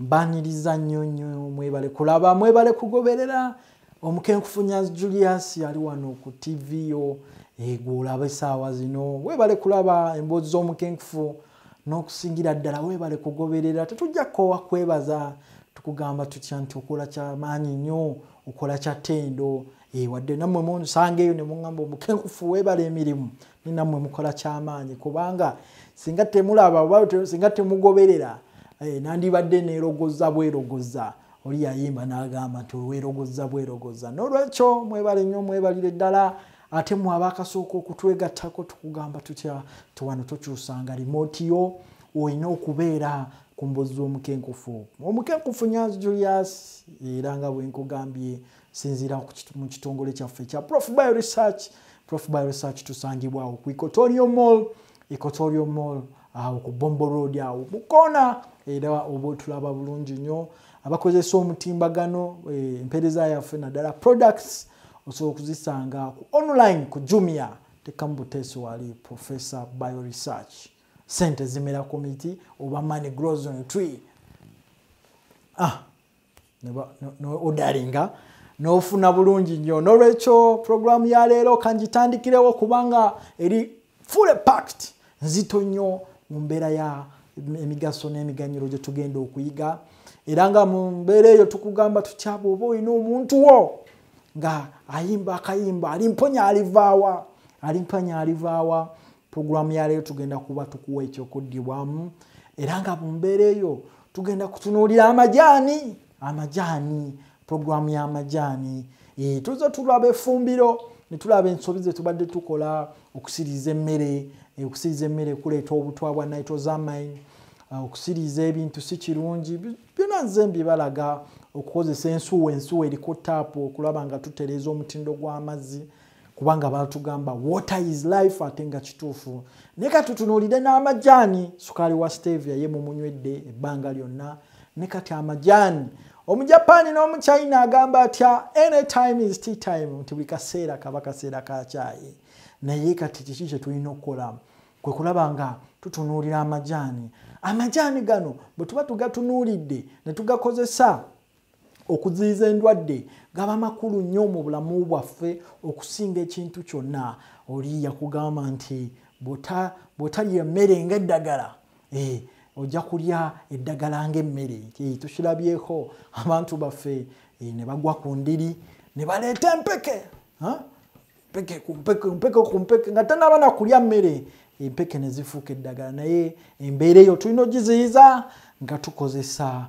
mbaniriza nnyo nnyo mwebale kulaba mwebale kugoberera omukenkufunya julius yali wano ku tv yo egwe olaba esaawa zino webale kulaba emboozi z'omukenkufu n'okusingira ddala webale kugoberera tetujja kukoowa kwebaza tukugamba tutya nti okola kyamaanyi nnyo okola kyatendo eh, wadde nammwe munsanga eyo ne muŋamba omukenkufu webale emirimu namwe mukola kyamaanyi kubanga singa temulaba oba singa temugoberera eh, nandibadde nerogoza bwerogoza oli yayimba nagamba nti werogoza bwerogoza nolwekyo mwebale nyo mwebalire ddala ate mwaba akasooka okutwegattako tukugamba tutya tiwano tokyusanga rimoti yo olina okubeera ku mbozi z'omukenkufu omukenkufu nyanzi julius era nga bwenkugambye sinziira mu kitongole kyaffe ekya prof bio research prof bio research tusangibwawo ku ecotorio mall ecotorio mall awo ku bombo road awo mukoona era oba otulaba bulungi nnyo abakozesa omutimbagano eh, empeereza yaffe naddala products osobola okuzisanga ku online ku jumia tekamu buteesi wali professor bio research sente zimera ku miti oba money grows on tree ah. nodalinga nofuna bulungi nnyo nolwekyo puroguramu ya leero kangitandikirewo kubanga eri full pact nzito nnyo mu mbeera ya emigaso n'emiganyiro gye tugenda okuyiga era nga mu mbeera eyo tukugamba tutyaba oba olina omuntu wo nga ayimba akayimba alimponya alivaawa alimponya alivaawa pulogulaamu ya leero tugenda kuba tukuwa ekyokuddibwamu era nga mu mbeera eyo tugenda kutunuulira amajaani amajaani pulogulaamu y'amajaani eh, tuza tulaba efumbiro ne tulaba ensobi ze tubadde tukola okusiriza emmere eh, okusiriza emmere kuleeta obutwa bwa nitrosamine eh, okusiriza ebintu si kirungi byona nze mbibalaga okukozesa ensuwa ensuwa eriko taapu okulaba nga tutereeza omutindo gw'amazzi kubanga batugamba water is life ate nga kituufu naye kati tunuulire n'amajaani sukaali wa stevia ye mumunywedde ebbanga lyonna ne kati amajaani omujapaani n'omuchina agamba atya any time is tea time nti buli kaseera kaba kaseera ka kyayi naye kati kiki kye tulina okukola kwe kulaba nga tutunuulira amajaani amajaani gano bwe tuba tugatunuulidde ne tugakozesa okuziyiza endwadde gaba makulu nnyo mu bulamu bwaffe okusinga ekintu kyonna oli yakugamba nti bwotalya emmere nga eddagala eh, ojja kulya eddagala ngaemmere eh, tukirabyeko abantu baffe eh, ne bagwa ku ndiri ne baleeta empeke mpeke kumpeke mpeke kumpeke nga tanaba nakulya mmere empeke ne zifuuka eddagala naye embeera eyo tulina ogiziyiza nga tukozesa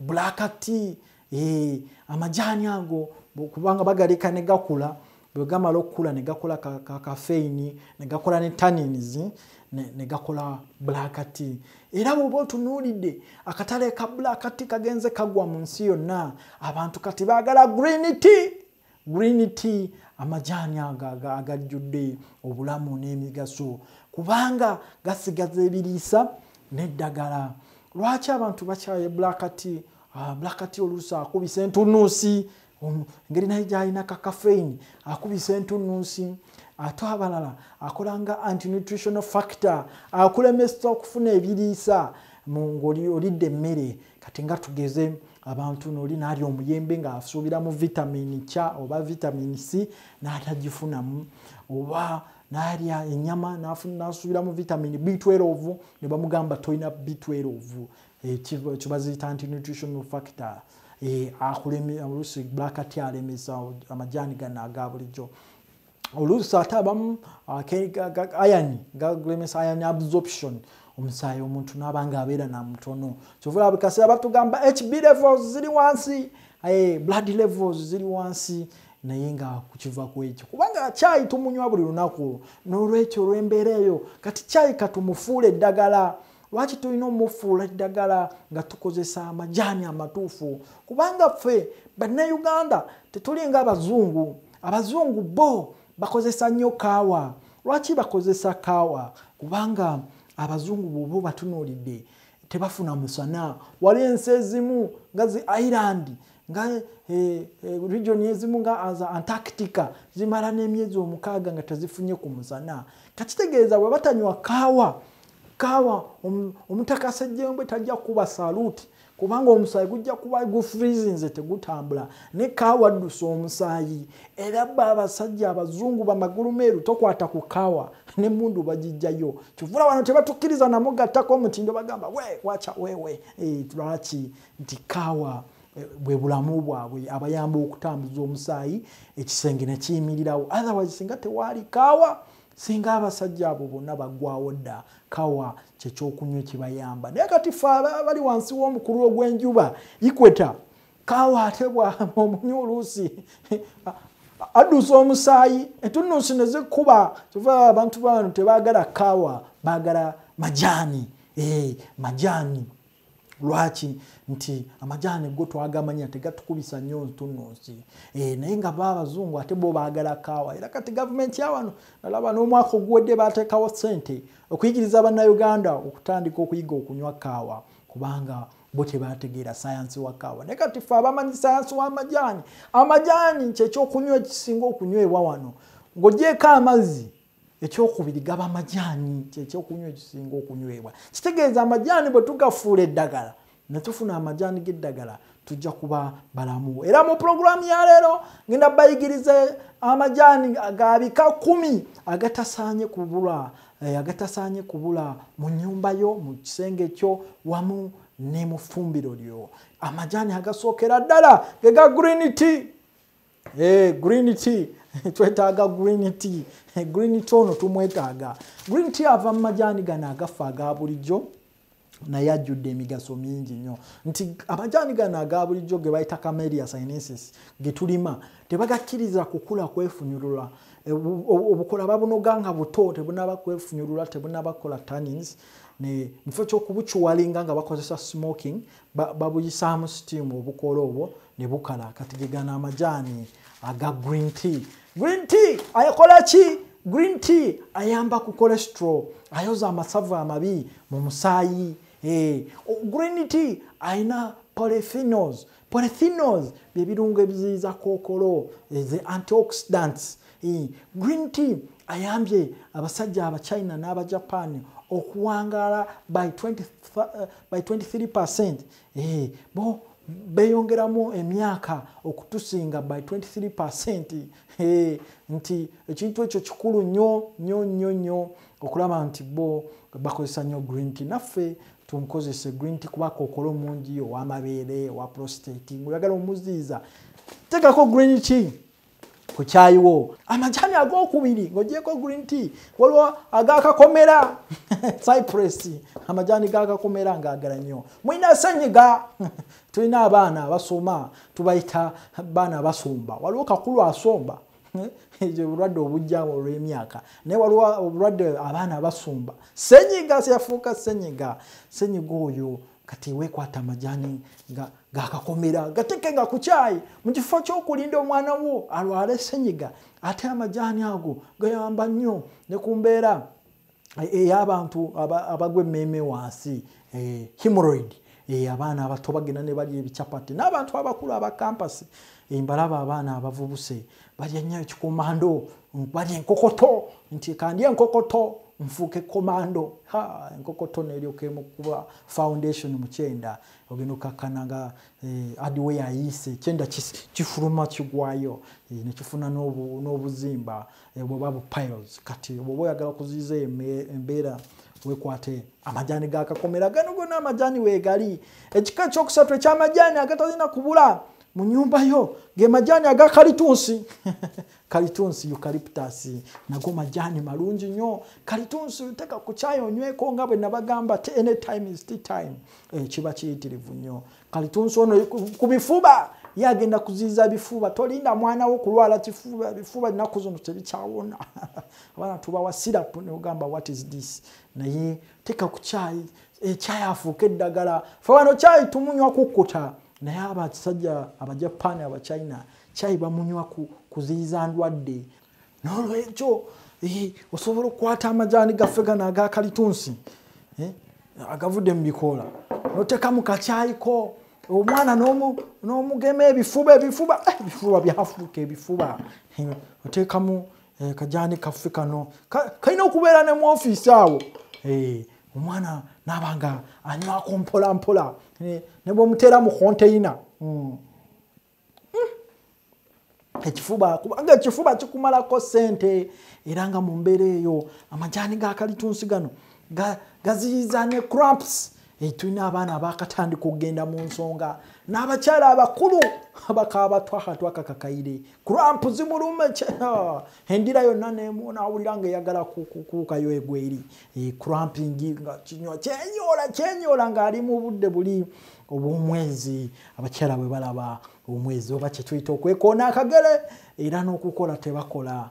bulakati eh, amajaani ago kubanga bagaleka ne gakula bwe gamala okukula ne gakola kakafeini ne gakola ne tanins ne gakola bulakati era bwoba otunuulidde akatale ka bulakati kagenze kagwa mu nsi yonna abantu kati baagala green tea green tea amajaani ago agajjudde obulamu n'emigaso kubanga gasigaza ebiriisa n'eddagala lwaki abantu bakyaye black tea ah, black tea oluusi akubisa entunuusi um, ngeri naye gyalina kakafeini akubisa entunuusi ate abalala akola nga antinutritional factor akulemesa okufuna ebiriisa ng'olidde emmere kati nga tugeze abantu noli nali omuyembe nga asuubira mu vitamini ky oba vitamini c n'atagifunamu oba nalya enyama nasuubira mu vitamini b12 ne bamugamba tolina b12 eh, kibaziyita nti nutritional factor eh, akulemi olusi black tea alemesa amajaani gano aga bulijjo oluusi ate abamu ayani galemesa ayani absorption omusaayi omuntu naaba nga abeera namutono kyovula buli kaseera batugamba hb levels ziri wansi eh, blood levels ziri wansi naye nga kukiva ku ekyo kubanga kyayi tumunywa buli lunaku n'olwekyo olw'embeera eyo kati kyayi katumufuula eddagala lwaki tulina omufuula eddagala nga tukozesa amajaani amatuufu kubanga ffe bannayuganda tetulinga abazungu abazungu bo bakozesa nnyo kaawa lwaki bakozesa kaawa kubanga abazungu bwoba batunuulidde tebafuna musana wali ensi ezimu nga zi ireland nga eh, eh, region ezimu nga aza antarctica zimala n'emyezi omukaaga nga tezifunye ku musana kakitegeeza bwe batanywa kaawa kaawa omutakasejjembwe tajja kuba saluti kubanga omusaayi gujja kuba gufrizinze tegutambula ne kaawa addusa omusaayi era ba abasajja abazungu bamagulu meeru tokwata ku kaawa ne mundu bagijjayo kivula wano tebatukkiriza namugattako omutindo bagamba we wacha wewe eh, lwaki nti kaawa eh, bwe bulamu bwabwe abayamba okutambuza omusaayi ekisenge nekiyimirirawo otherwise singa tewaali kaawa singa abasajja abo bonna bagwawo dda kawa kyekyokunywa ekibayamba naye kati fe bali wansi w'omukulu ogw'enjuba ikweta kawa ate omunywi oluusi addusa omusaayi entunnunsi ne zikuba kyova abantu bano tebaagala kawa baagala majaani eh, majaani lwaki nti amajaani go twagamanya tegatukubisa nnyo ntununsi e, eh, naye nga ba abazungu ate bo baagala kaawa era kati gavumenti yawano nalaba n'omwaka oguwedde bateekawo ssente okuyigiriza bannayuganda okutandika okuyiga okunywa kaawa kubanga bo tebategeera sayansi wa kaawa naye kati fe abamanyi sayansi w'amajaani amajaani kyekyokunywa ekisinga okunywebwa wano ng'ogyeko amazzi ekyokubiri gaba amajaani kyekyokunywa ekisinga okunywebwa kitegeeza amajaani bwe tugafuula eddagala ne tufuna amajaani g'eddagala tujja kuba balamu era mu pulogulaamu ya leero ngenda bayigiriza amajaani ga bika kumi agatasaanye kubula eh, agatasaanye kubula mu nyumba yo mu kisenge kyo wamu ne mu ffumbiro lyo amajaani agasookera ddala ge ga green tea Hey, green tea twetaaga green tea green tea ono tumwetaaga green tea ava mu majaani gano agaffe aga bulijjo naye ajjudde emigaso mingi nnyo nti amajaani gano aga bulijjo ge bayita camelia sinesis ge tulima tebagakkiriza kukula kwefunyulula e, obukola babunoga nga buto tebunaba kwefunyulula tebunaba kola tannins mukifo kyokubukiwalinga nga bakozesa smoking babuyisaamu steam obukoola obwo ne bukala kati gegana amajaani aga green tea green tea akola ki green tea ayamba ku cholesterol ayoza amasavu amabi mu musaayi eh, green tea alina polyphenols polyphenols byebirungo ebiziyiza kookolo eh, the antioxidants Eh, green tea ayambye abasajja abachina n'abajapan okuwangaala by 23 percent eh, bo beyongeramu emyaka okutusinga by 23 percent eh, nti ekintu ekyo kikulu nyo nyo nyo nyo okulaba nti bo bakozesa nyo green tea naffe tunkozese green tea kuba kokola omungi owamabeere owa prostate ngaoyagala omuziiza tekako green tea ku kyayi wo amajani agokubiri ng'ogyeko green tea waliwo agakakomera cypress amajani gakakomera ngaagala nnyo mulina senyiga tulina abaana abasoma tubayita baana abasumba waliwo kakulu asomba ekyo bulwadde obujjamu olw'emyaka naye waliwo obulwadde abaana abasumba senyiga yafuuka senyiga senyiga oyo kati wekwata amajani gakakomera ga gateke nga kukyayi mu kifo kyokulinda omwana wo alwala esenyiga ate amajani ago gayamba nnyo ne ku mbeera eh, ey'abantu abagwa emmeeme wansi eh, hemoroid eh, abaana abato bagenda ne balya ebichapati n'abantu abakulu aba kampasi mbalaba abaana abavubuse balya nnyo ekikomando balya enkokoto nti kandya enkokoto nfuuke komando ha enkokoto neryoka emukuba foundation mukyenda ogenda okakkana nga eh, adiwe yayiise ekyenda kifuluma kigwayo eh, nekifuna n'obuzimba eh, bweba bu piles kati bwoba oyagala okuziiza embeera wekwate amajani gakakomera gano gona amajani wegali ekika ekyokusatu ekyamajani agatalina kubula mu nyumba yo ge majaani aga kalitunsi kalitunsi eucalyptus nago majaani malungi nnyo kalitunsi teka ku kyayi onyweko nga bwe nabagamba t any time is t time eh, kiba kiyitirivu nnyo kalitunsi ono ku bifuba ye agenda kuziiza bifuba tolinda mwana wo kulwala kifuba bifuba nnaku zino tebikyawona abaana tubawa sirapu neogamba what is this naye teka ku kyayi ekyayi eh, afuuka eddagala fe wano kyayi tumunywa kukkuta naye abakisajja abajapaani abachina kyayi bamunywa kuziyiza ndwadde nolwekyo eh, osobola okukwata amajaani gaffe gano agakalitunsi eh, agavudde mu bikoola notekamu kakyayiko omwana nomugema ebifuba ebifuba eh, ebifuba byafuuka ebifuba otekamu eh, kajani kaffe kano kalina okubeera ne mu ofiisi awo eh, omwana nabanga anywako mpola mpola eh, ne bwemuteera mu konteyina hmm. hmm. ekifuba kubanga ekifuba kikumalako sente era nga mu mbeera eyo amajani gakalitunsi gano gaziyiza ne cramps Eh, tulina abaana abakatandika okugenda mu nsonga n'abakyala abakulu abakaaba twaha twakakakaire kurampu zimulume ah, endira yonna nawulira nga eyagala kuukayo egweri eh, kurampingi nga kinywa kyenyoola kyenyoola ng'ali mu budde buli obwomwezi abakyala bwe balaba omwezi oba kyetuyita okwekoona akagere era n'okukola tebakola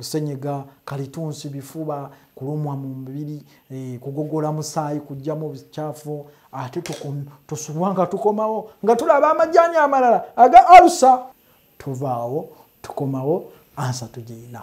senyiga kalitunsi bifuba kulumwa mu mubiri eh, kugogola musaayi kujjamu obukyafu ate tusubwa nga tukomawo nga tulaba amajani amalala aga alusa tuvaawo tukomawo ansa tugirina